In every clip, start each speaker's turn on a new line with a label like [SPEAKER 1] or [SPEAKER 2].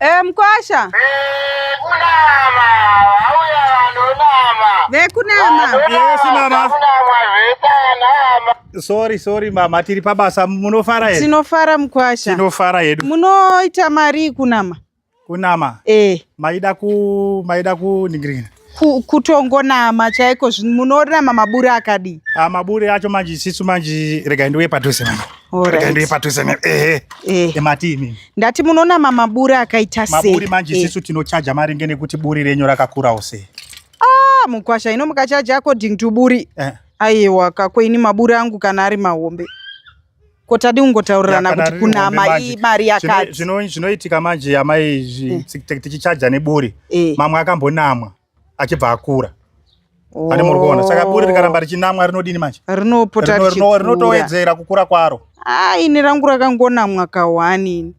[SPEAKER 1] Eh, mkwasha vekunama
[SPEAKER 2] vauya vanonama vekunama
[SPEAKER 1] yes mama
[SPEAKER 2] sorry sorry
[SPEAKER 3] mama tiri pabasa munofara here tinofara mkwasha
[SPEAKER 1] tinofara hedu
[SPEAKER 3] munoita mari
[SPEAKER 1] kunama kunama
[SPEAKER 3] eh. maida ku maida kuningirina ku,
[SPEAKER 1] kutongonama chaiko munorama maburi akadii ah, maburi acho manje
[SPEAKER 3] isisu manje regai ndiuye padhuze manje regai ndiuye padhuze manje ehe eh. emati imi ndati munonama
[SPEAKER 1] maburi akaita sei maburi manje eh. isisu eh. tinochaja
[SPEAKER 3] maringe nekuti buri renyu rakakurawo sei ah mukwasha
[SPEAKER 1] ino mukachaja according to buri eh. aiwa kako ini maburi angu kana ari mahombe ko tadi kungotaurirana kuti kunama imari yakati zvinoitika manje
[SPEAKER 3] amai eh. tichichaja neburi eh. mamwe akambonamwa achibva akura ane muri kuona saka buri rikaramba richinamwa rinodini manje rinopota
[SPEAKER 1] rinotowedzera kukura
[SPEAKER 3] kwaro a ah, ini rangu
[SPEAKER 1] rakangonamwa kahwani ini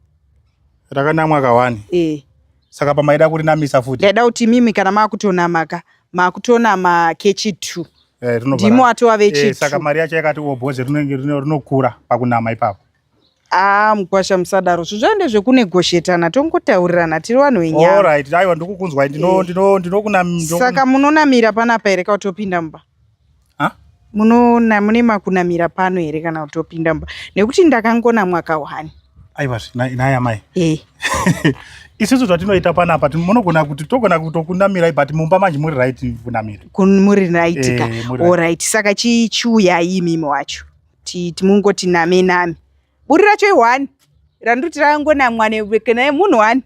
[SPEAKER 1] Rakana
[SPEAKER 3] mwaka wani. Eh. Saka pamaida kuri namisa futi. Ndaida kuti mimi kana makutona
[SPEAKER 1] maka makutona ma kechi 2. Eh, Ndimo atova vechi 2. Eh, saka mari yacho yakati
[SPEAKER 3] oboze oh, rinenge rinokura pakunama ipapo. Ah,
[SPEAKER 1] mkwasha musadaro. Zvizvande zvekune goshetana tongotaurirana tiri vanhu venyama. All right, aiwa ndikukunzwa
[SPEAKER 3] ndino eh. ndino ndinokuna. Saka munonamira
[SPEAKER 1] panapa here kautopinda mumba? munoona mune makunamira pano here kana kuti opinda mumba nekuti ndakangona mwaka wani aiwa
[SPEAKER 3] naye amai eh. isusu zvatinoita panapa munogona kuti togona kutokunamirai but mumba manje muri right kunamira muri raitika
[SPEAKER 1] eh, orit saka chichiuyai imimi wacho timungoti name name buri racho ihwani randoti rangonamwa newekenaye munhu wani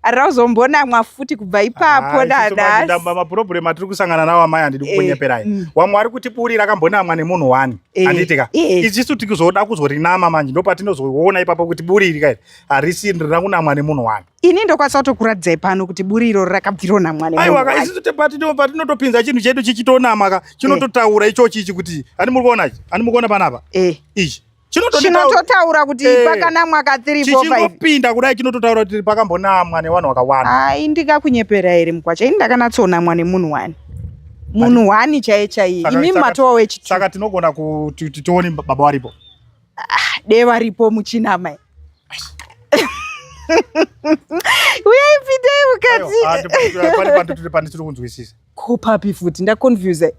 [SPEAKER 1] ari rauzombonamwa futi kubva ipapo dadamapurobhuremu atiri
[SPEAKER 3] kusangana nawo amai handidi eh, kukunyeperai mm. wamwe ari kuti buri rakambonamwa nemunhu wani eh, handitika eh. ichisu tikuzoda kuzorinama manje ndo patinozoona ipapo kuti buri iri kairi harisi rina kunamwa nemunhu wani ini ndokwanisa kutokuratidzai
[SPEAKER 1] pano kuti buri iroro rakabvironamwa neaiwaka isu patinotopinza
[SPEAKER 3] chinhu chedu chichitonamaka chinototaura ichochi ichi kuti ani muri kuona ichi ani muri kuona panapa ichi chinototaura
[SPEAKER 1] kuti eh, pakanamwa ka 3 chichingopinda kudai
[SPEAKER 3] chinototaura kuti pakambonamwa nevanhu vakawanda hai ndikakunyepera here
[SPEAKER 1] mukwacha ini ndakanatsonamwa nemunhu wani munhu wani chaiye chaiye imi matowa wechitu saka tinogona kuti
[SPEAKER 3] tione baba varipo ah, de
[SPEAKER 1] varipo muchinamai uyai pindei mukati ah, tiri kunzwisisa
[SPEAKER 3] Ko papi futi
[SPEAKER 1] ndaconfuse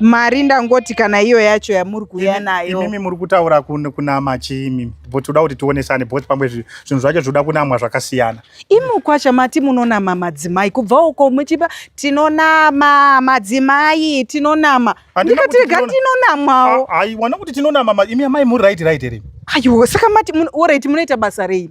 [SPEAKER 1] mari ndangoti kana iyo yacho yamuri kuuya nayo imimi muri kutaura
[SPEAKER 3] kunama chii imimi but toda kuti tionesane both pamwe zvinhu zvacho zvinoda kunamwa zvakasiyana imi kwacha mati
[SPEAKER 1] munonama madzimai kubva uko muchipa tinonama madzimai tinonama ndikatirega tinonamwawo aiwana kuti
[SPEAKER 3] tinonama imi amai muri right right here aiwa saka mati
[SPEAKER 1] orit munoita basa rei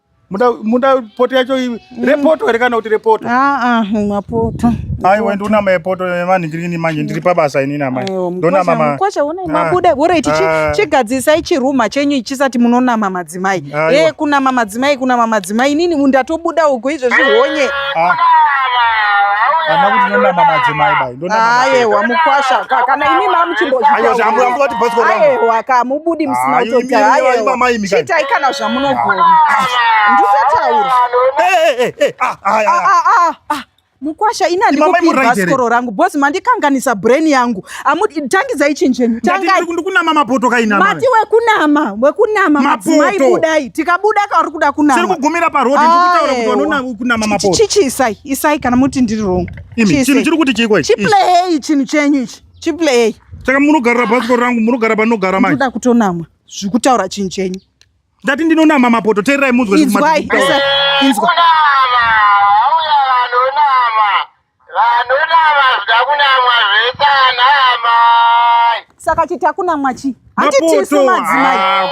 [SPEAKER 3] muda poto yacho mm. repoto here kana kuti repoto aa mapoto
[SPEAKER 1] aiwa ndonama
[SPEAKER 3] yepoto yevanhingirini manje ndiri pabasa inini amai ndonamamukwacha
[SPEAKER 1] unai mabuda bora ichi chigadzisai chiruma chenyu ichisati munonama madzimai e kunama madzimai kunama madzimai inini ndatobuda ugo izvo zvihonye ana
[SPEAKER 3] kuti ndonama madzimai bai ayewa mukwasha
[SPEAKER 1] ka kana imi mamuchimbozviayewa
[SPEAKER 3] ka mubudi
[SPEAKER 1] musina kutota ayewa chitai kana zvamunogona ndisataura mukwasha ini handikupirwa sikoro rangu bhosi mandikanganisa brain yangu tangidzai chinjenyu tangikunama
[SPEAKER 3] mapoto kainamati wekunama
[SPEAKER 1] wekunama madzimai budai tikabuda kauri kuda kunama kugumira parhodhi ndikutaura
[SPEAKER 3] kuti vanonama kunama mapoto chichi isai isai
[SPEAKER 1] kana muti ndiri wrong Imi chinhu chiri kuti chiko
[SPEAKER 3] ichi. Chiplay chinhu chenyu ichi. Chiplay. Saka munogarira bhasikoro rangu munogara
[SPEAKER 1] panogara
[SPEAKER 3] manje. Ndoda
[SPEAKER 1] kutonamwa zvikutaura chinhu chenyu. Ndati ndinonama
[SPEAKER 3] mapoto teererai munzwe zvikumati. Inzwai.
[SPEAKER 1] Inzwa. Saka chiti hakuna mwachi. Hati tisu madzimai. Ah,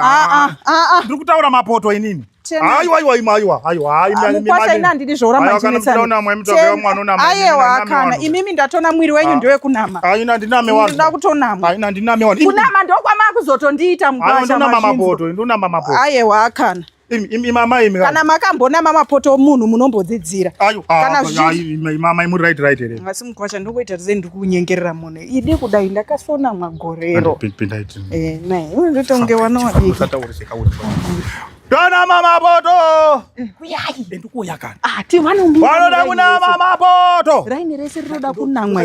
[SPEAKER 1] ah, ah,
[SPEAKER 3] ah, ah. Ndiri kutaura mapoto inini. Aiwa aiwa ima aiwa aiwa aiwa mukwasha
[SPEAKER 1] ina ndidi zvoura manjinetsana aiwa kana imimi ndatona mwiri wenyu ah. ndewe kunama aina ndiname wani ndoda
[SPEAKER 3] kutonama aina
[SPEAKER 1] ndiname wani kunama
[SPEAKER 3] ndokwama
[SPEAKER 1] kuzotondiita mukwasha ndinama mapoto ndinama
[SPEAKER 3] mapoto aiwa
[SPEAKER 1] kana
[SPEAKER 3] kana makambona mamapoto
[SPEAKER 1] omunhu munombodzidzira kana
[SPEAKER 3] zviimamai muri right right here asi mukwasha ndokuita
[SPEAKER 1] sei ndiri kunyengerera munhu idi kudai ndakasona magorero eh,
[SPEAKER 3] ndotonge
[SPEAKER 1] wanawadikdona
[SPEAKER 3] mamapoto eh,
[SPEAKER 1] uyaiwanoda
[SPEAKER 3] ah,
[SPEAKER 1] kunama
[SPEAKER 3] mapoto
[SPEAKER 1] raini rese rinoda
[SPEAKER 3] kunamwa